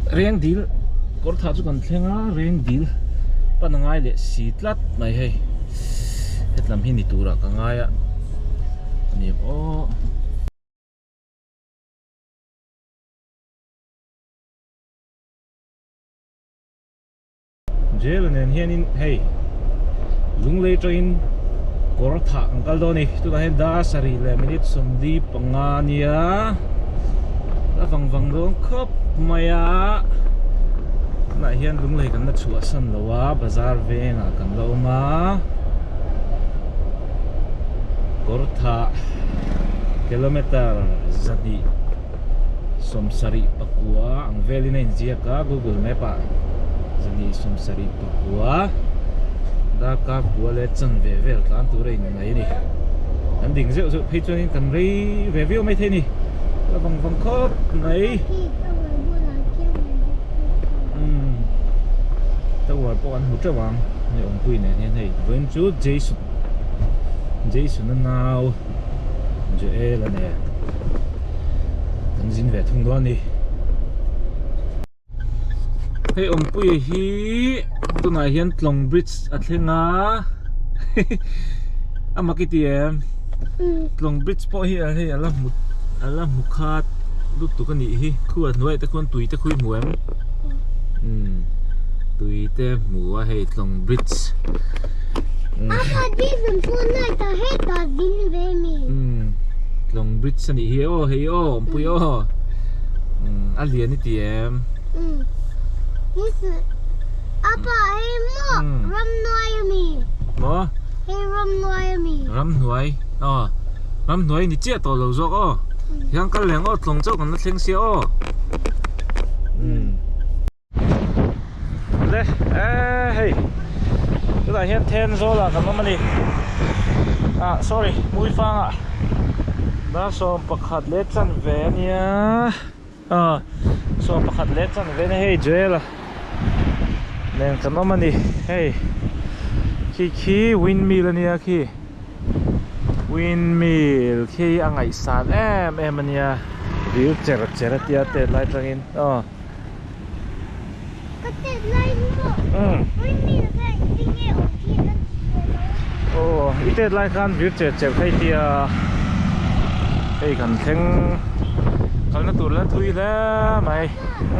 reng dil kawr thah chu kan thleng a reng dil pan a ngai leh si tlat mai hei hetlam hi ni tura ka ngai a ani ang aw Jela nen hianin hei Lunglei tawin kawr thah kan kal dawn a ni. Tunah hian dar sarih leh minute sawmli panga a nia a vang vang dawn khawp mai a. Tunah hian Lunglei kan la chhuahsan lo a, bazar vengah kan la awm a. Kawr thah kilometre zahnih. sawmsarih pakua ang velin a inziak a google map ah zani sawmsarih pakua dhaka kua leh chanve vel tlan tur a inngaih a ni kan ding zeuh zeuh phei chuan kan rei ve viau mai thei a ni la vang vang khawp mai umm tower pawh kan hmu teuh ang hei awmpuia nen hian hei vawiin chu jason jasona nau. zui el a nen kan zin ve thung nual ni hei awmpuia hi tunah hian tlawng bridge a thleng a a mak i ti em tlawng bridge pawh hi hei ala hmu kha lutuk a nih hi khu a hnuaia te khawn tui te khawi hmu em. tuite hmu a hei tlawng bridge tlawng bridge a nih hi aw hei aw awmpui aw a lian i ti em maw ramhnuai aw ramhnuai a ni chiah tawh lo zawk aw tihian kal reng aw tlawng chauh kan la thleng sia aw. le e hei tunah hian then zawlah kan awm a ni ah sorry muifanga dar sawm pakhat leh chanve a nia a sawm pakhat leh chanve a nia hei jail nen kan awm a ni hei khi khi windmill a nia khi. Windmill khi a ngaihsan em em a nia dil cher cher a tia tet lai atangin aw ka tet lai hi maw umm windmill kha in ti nge awm thin a ni hmel lo a ni aw i tet lai khan dil cher cher phei tia hei kan thleng kalna tur la thui hle mai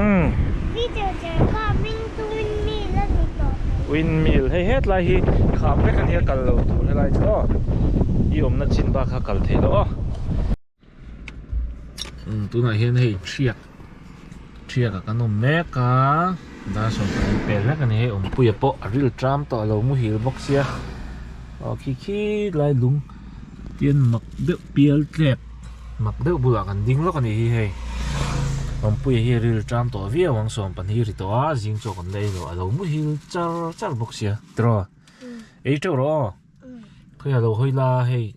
umm dil cher cher kha min-- Windmill hei hetlai hi kham vek ania kal lo tur helai chu aw i awmna chin bak kha kal theilo aw tunah hian hei thiak thiak a kan awm mek a dar sawmpakhat hi pel vek ania hei awmpuia pawh a riltram tawh a lo muhil bawk sia aw khi khi lai lung Tin mak deuh pial tlep mak deuh bulah kan ding lawk a nih hi hei. Awmpuia hi a ril ṭam tawh viau ang sawm pan hi a ri tawh a, zing chu a kan la ei lo a lo muhil char char bawk sia. Tiraw? Ei ṭeuh rawh aw. Khawiah lo hawi la hei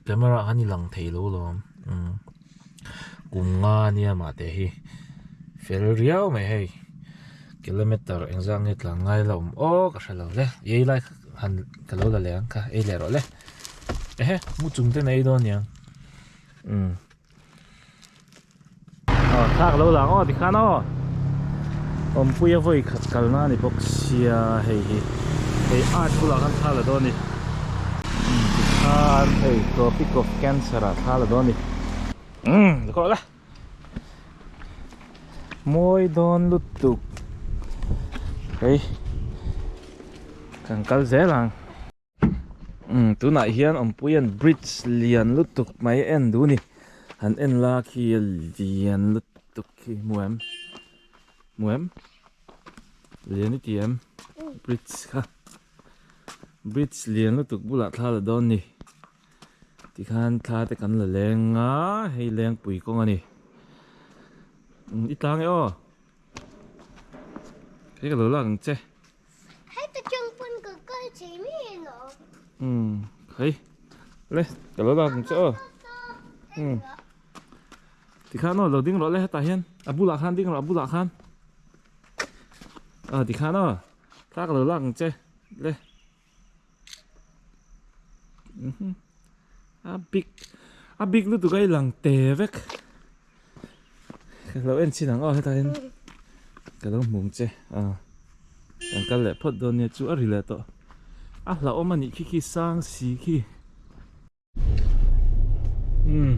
camera ah khan i lang thei lo alawm. kum nga nia mah te hi fel riau mai hei kilometer eng zang nge tlan ngai la awm aw ka hre lo le i ei lai han ka lo la leh ang kha ei leh rawh le ehe mu chung ten ei dawn niang um aw thla ka lo la ang aw ti khan aw awmpuia vawi khat kalna a ni bawk sia hei hi hei art bulah khan thla la dawn a ni. Thar ei tropic of cancer ah thar la dawn a ni. Umm za kawrh la. Mawi dawn lutuk. Hei. Kan kal zel ang. Umm tunah hian awmpuia'n bridge lian lutuk mai a en duh a ni. Han en la khi a lian lutuk khi hmu em? Hmu em? Lian i ti em? Bridge kha. Bridge lian lutuk bulah thla la dawn ni tikhan thla te kan la leng a, hei lengpui kawng a ni. I tlang e aw. Hei ka lo lak ang che. Hei ta chang pun ka kal chei mi e lo. Hmm, hei. Le, ka lo lak ang che aw. Hmm. Tikhan aw, lo ding rawh le hetah hian. A bulah khan ding rawh, a bulah khan. Ah, tikhan aw. Tlak lo lak ang che le mhm a big a big lutuk a i lang te vek ka lo en chin ang aw hetain ka lo hmung che a kan kal leh phawt dawn nia chu a ri leh tawh a hla awm a nih khi khi sang si khi Hmm.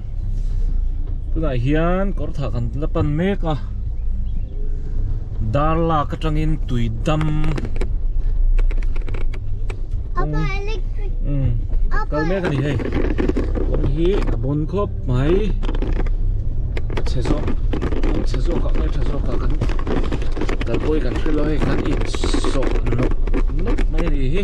Tunah hian kawr thah kan la pan mek a. Dar lak atangin tui dam. Apa electric. Hmm. Kal mek ani hei. Kawr hi a bun khawp mai. Che zawk. Che zawk a nge che zawk a kan kalpui kan hrilh a hei kan insawh nawk nawk mai a ni hi.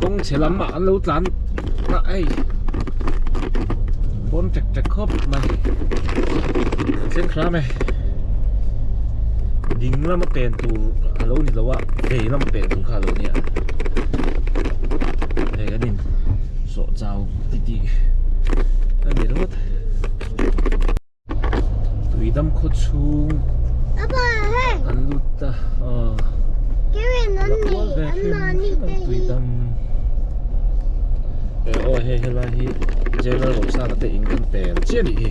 kawng chhe lam ah an lo tlan a ei pawn ṭek ṭek khawp mai chenkhrame ding lam a pen tur a lo ni lo a vei lam a pen tur kha a lo ni a hei an in sawh chau titi a ni rawt. tui dam khaw chhung an lut ta a la kual ve hlim hlim a tui dam eh aw hei helai hi general rosana te in kan tel chiah a nih hi.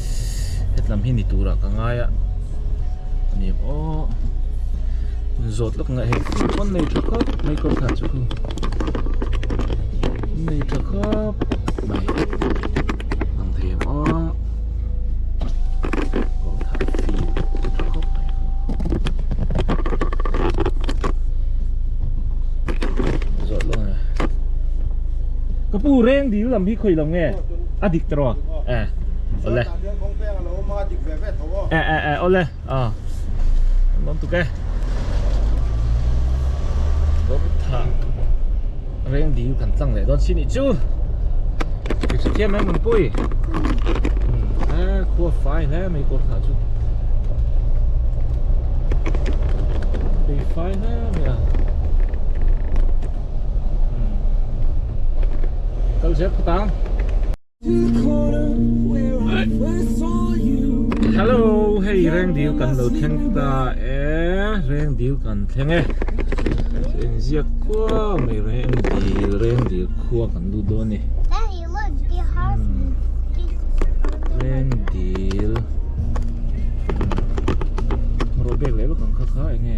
hetlam hi ni tura ka ngai a ani ang aw zawt lawk ngai hek pawn nei tha khawp mai kawr khah chu chu nei tha khawp mai ang thei ang aw kawr khah fil nei tha khawp mai zawt lawk nge ka pu reng dil lam hi khawih lo nge a dik ta rawh. eh awle eh eh eh awle a awm tuk e kawngtha reng dil kan tlang leh dawn si nih chu ri hre thiam em nungpui a khua fai hle mai hi kawngtha chu ri fai hle mai a kal zia phawt ang Hello hei reng dil kan lo thleng ta e reng dil kan thleng e en ziak kuau mai reng dil reng dil khua kan lut dawn ni reng dil rawh bek leh vak ang kha kha enge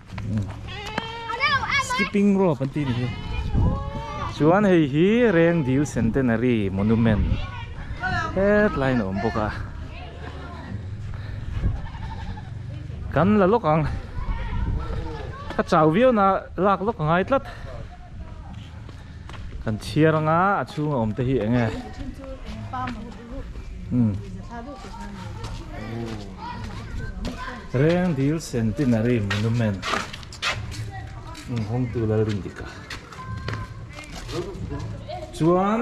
Skipping rope an tih nihhi chuan hei hi Rengdil Centenary Monument hetlai in a awm bawk a kan la lawk ang ka chau viau na lak lawk a ngai tlat. Kan chhiar anga a chhunga awm te hi eng e? Reng dil centenary monument inhawngtu Lalrindik a chuan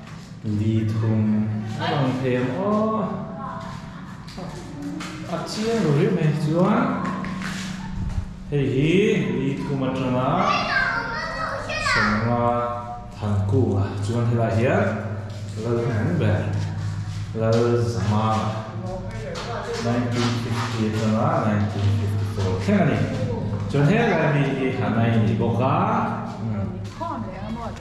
Li thum a rawn thlem a, a chiang lo riah mai chuan hei hi li thum atanga sawmnga thankunga chuan helai hian lal hnung ber lal zama nineteen fifty atanga nineteen fifty four thleng a ni chuan he lai mi hi a nai a ni bawk a.